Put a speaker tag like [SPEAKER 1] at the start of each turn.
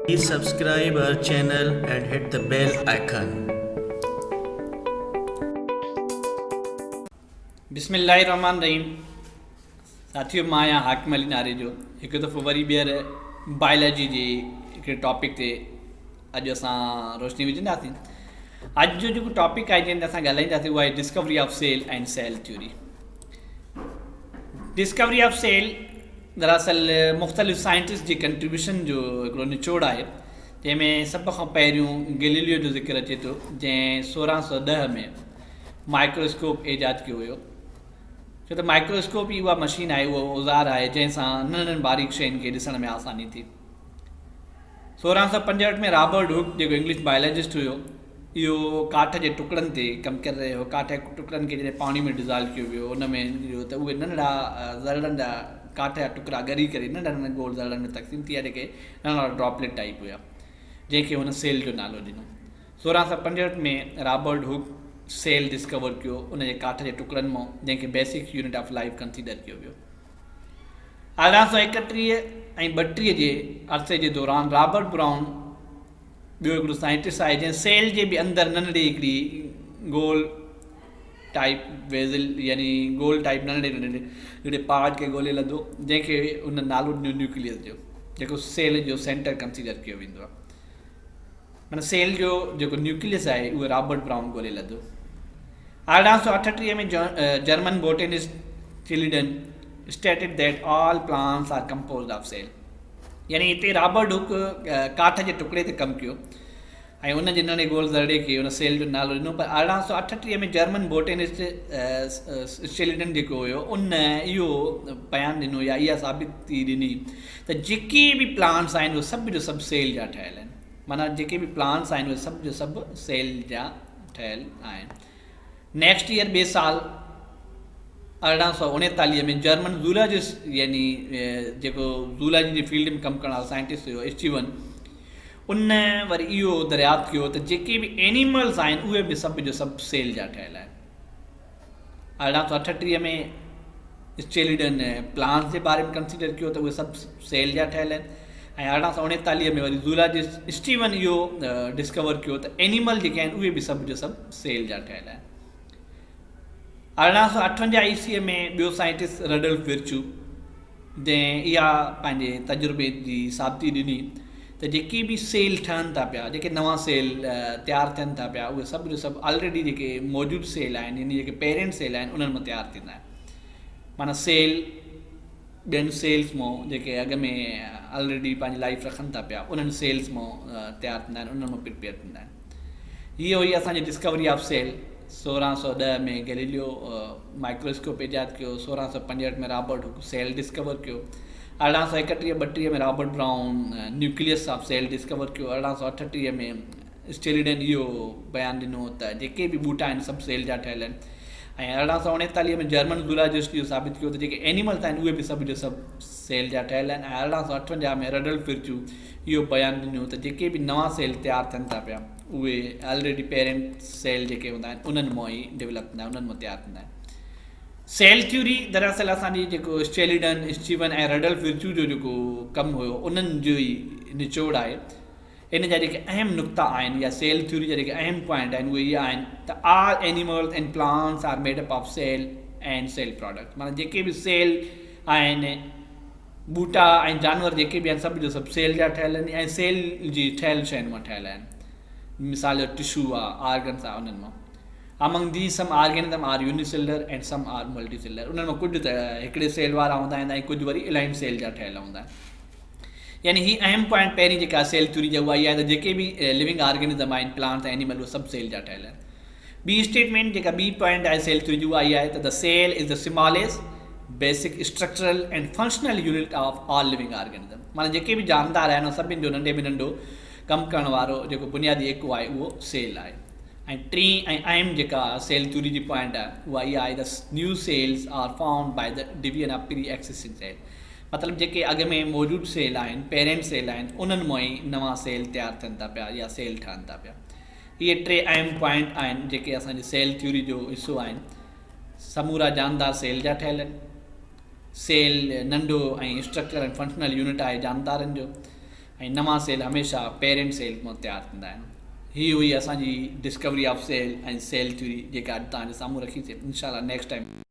[SPEAKER 1] Please subscribe our channel and hit the bell icon.
[SPEAKER 2] بسم الله الرحمن الرحيم ساٿيو مان آهيان حاڪم علي ناريجو هڪ دفعو وري ٻيهر بائيلاجي جي هڪڙي ٽاپڪ تي اڄ اسان روشني وجهنداسين اڄ جو جيڪو ٽاپڪ آهي جنهن تي اسان ڳالهائينداسين اهو آهي discovery of cell ۽ cell theory discovery of cell دراصل مختلف سائنٽسٽ جي کنٽريبيوشن جو هڪڙو نچوڙ آهي جنهن ۾ سڀ کان پهريون گليليو جو ذڪر اچي ٿو جنهن سورهن سو ڏهه ۾ مائڪروسڪوپ ايجاد ڪيو هيو ڇو ته مائڪروسڪوپ ئي اها مشين آهي اهو اوزار آهي جنهن سان ننڍڙن باریڪ شين کي ڏسڻ ۾ آساني ٿي سورهن سؤ پنجهٺ ۾ رابرٽ هوڪ جيڪو انگلش بائيولاجسٽ هيو اهو ڪاٺ جي ٽڪڙن تي ڪم ڪري رهيو هو ڪاٺ جي ٽڪڙن کي جڏهن پاڻي ۾ ڊزالو ڪيو ويو ان ۾ اهو ته اهي ننڍڙا ذرڙن جا ڪاٺ جا ٽڪرا ڳري ڪري ننڍن ننڍن گول ذرڙن ۾ تقسيم ٿي ويا جيڪي ننڍا ننڍا ڊراپليٽ ٽائيپ هيا جنهن کي هن سيل جو نالو ڏنو سورهن سؤ پنجهٺ ۾ رابرٽ هوڪ سيل ڊسڪور ڪيو ان جي ڪاٺ جي ٽڪڙن مان جنهن کي basic unit of life consider ڪيو ويو اهڙا سؤ ايڪٽيهه ۽ ٻٽيهه جي عرصي جي دوران رابرٽ برائون ٻيو هڪڙو سائنٽسٽ آهي جنهن سيل جي به اندر ننڍڙي هڪڙي گول ٽائيپ ويزل يعني گول ٽائيپ ننڍڙي ننڍڙي هڪڙي پارٽ کي ڳولي لڌو جنهن کي هن نالو ڏنو نيوڪليس جو جيڪو سيل جو سينٽر ڪنسيڊر ڪيو ويندو آهي معنيٰ سيل جو جيڪو نيوڪليس آهي اهو رابرٽ برائون ڳولهي لڌو. ارڙهن سؤ اٺٽيهه ۾ German botanist Schleiden stated that all plants are composed of cell يعني هتي رابرٽ هوڪ ڪاٺ جي ٽڪڙي تي ڪم ڪيو ۽ ان جي ننڍي گول ذرڙي کي ان سيل جو نالو ڏنو پر ارڙهن سؤ اٺٽيهه ۾ جرمن بوٽينسٽ اسٽيليڊن جيڪو هيو ان اهو بيان ڏنو يا اها ثابتي ڏني ته جيڪي به پلانٽس آهن اهي سڀ جو سڀ سيل جا ٺهيل آهن معنيٰ جيڪي به پلانس آهن اهي سڀ جو سڀ سيل جا ٺهيل آهن نيڪسٽ ايئر ٻئي سال ارڙهن سو اڻيتاليهه ۾ جرمن زولاجسٽ يعني جيڪو زولاجي جي فيلڊ ۾ ڪم ڪرڻ وارو سائنٽسٽ هيو اسٽيون ان وري اهو دريافت ڪيو ته جيڪي به اينيملز آهن اهي به سڀ جو سڀ سيل جا ٺهيل آهن ارڙهن سؤ اٺٽيهه ۾ اسچيلڊن پلانس جي باري ۾ ڪنسڊر ڪيو ته اهي سڀ سيل جا ٺهيل آهن ۽ ارڙهن سؤ اڻيتاليهه ۾ وري زولاجسٽ اسٽيون اهو ڊسڪور ڪيو ته اينيمل جيڪي آهن اهي به سڀ جو سڀ سيل جا ٺهيل آهن ارڙهن سؤ اٺونجاهه عيسويء ۾ ٻيو سائنٽسٽ رڊلف ورچو جنهن اها پنهنجي تجربي جي ثابتي ڏني ته جيڪي به سيل ٺهن ٿا پيا جيڪي نوان سيل تيار ٿين ٿا پيا اهي سڀ جو سڀ آلريڊي جيڪي موجود سيل آهن يعني جيڪي پيرنٽ سيل آهن انهن مان تيار ٿيندا آهن معنيٰ سيل ٻين سيلز مو جيڪي اڳ ۾ آلريڊي پنهنجي لائف رکن ٿا پيا انهن سيلز مو تيار ٿيندا آهن انهن مو پرپيئر ٿيندا آهن هيء هئي اسان جي ڊسڪوري آف سيل، سورهن سؤ ڏهه ۾ گئليليو مائڪرواسڪوپ ايجاد ڪيو، سورهن سؤ پنجهٺ ۾ رابرٽ هوڪ سيل ڊسڪور ڪيو، ارڙهن سؤ ايڪٽيهه ٻٽيهه ۾ Robert Brown nucleus of cell discover ڪيو، ارڙهن سؤ اٺٽيهه ۾ اسٽيريڊن اهو بيان ڏنو ته جيڪي به ٻوٽا آهن سڀ سيل جا ٺهيل آهن ۽ ارڙهن سؤ اڻيتاليهه ۾ جرمن زولاجسٽ اهو ثابت ڪيو ته جيڪي اينيملس آهن اهي به سڀ جو سڀ سيل جا ٺهيل آهن ۽ ارڙهن سؤ اٺونجاهه ۾ رڊلف فرچو اهو بيان ڏنو ته جيڪي به نوان سيل تيار ٿين ٿا پيا اهي آلريڊي پيرنٽ سيل جيڪي هوندا آهن انهن مان ئي ڊولپ ٿيندا آهن انهن مان تيار ٿيندا آهن سيل ٿيوري دراصل اسان جي جيڪو شيليڊن اسٽيون ۽ رڊلف ورچو جو جيڪو ڪم هيو انهن جو ئي نچوڙ آهي ان جا جيڪي اهم نقطا آهن يا سيل ٿيوري جا جيڪي اهم پوائنٽ آهن اهي اهي آهن ته all animals and plants are made up of cell and cell products معنيٰ جيڪي به سيل آهن ٻوٽا ۽ جانور جيڪي به آهن سڀ جو سڀ سيل جا ٺهيل آهن ۽ سيل جي ٺهيل شين مان ٺهيل آهن مثال جو ٽشو آ آرگنس آ انهن مان Among these some organism are unicellular and some are multicellular انهن مان ڪجهه ته هڪڙي سيل وارا هوندا آهن ۽ ڪجهه وري الاين سيل جا ٺهيل هوندا آهن يعني هي اهم پوائنٽ پهرين جيڪا سيل ٿيوري جي اها هي آهي ته جيڪي به لوينگ آرگنزم آهن پلانٽس ۽ اينيمل اهي سڀ سيل جا ٺهيل آهن ٻي اسٽيٽمينٽ جيڪا ٻي پوائنٽ آهي سيل ٿيو جي اها آهي ته The cell is the smallest basic structural and functional unit of all living organism معنيٰ جيڪي به جاندار آهن ان سڀني جو ننڍي ۾ ننڍو ڪم ڪرڻ وارو جيڪو بنيادي ايڪو آهي اهو سيل آهي ۽ ٽين ۽ اهم جيڪا سيل ٿيوري جي پوائنٽ آهي اها اها آهي ته new cells are formed by the division of preexisting cell مطلب جيڪي اڳ ۾ موجود سيل آهن پيرنٽ سيل آهن انهن مئن ئي نوان سيل تيار ٿين ٿا پيا يا سيل ٺهن ٿا پيا اهي ٽي اهم پوائنٽ آهن جيڪي اسان جي سيل ٿيوري جو حصو آهن. سمورا جاندار سيل جا ٺهيل آهن. سيل ننڍو ۽ اسٽرڪچر ۽ فنڪشنل يونٽ آهي جاندارن جو ۽ نوان سيل هميشه پيرنٽ سيل مان تيار ٿيندا آهن. هي هئي اسان جي discovery of cell ۽ cell theory جيڪا اڄ توهان جي سامهون رکيسين انشاء الله نيڪسٽ ٽائيم.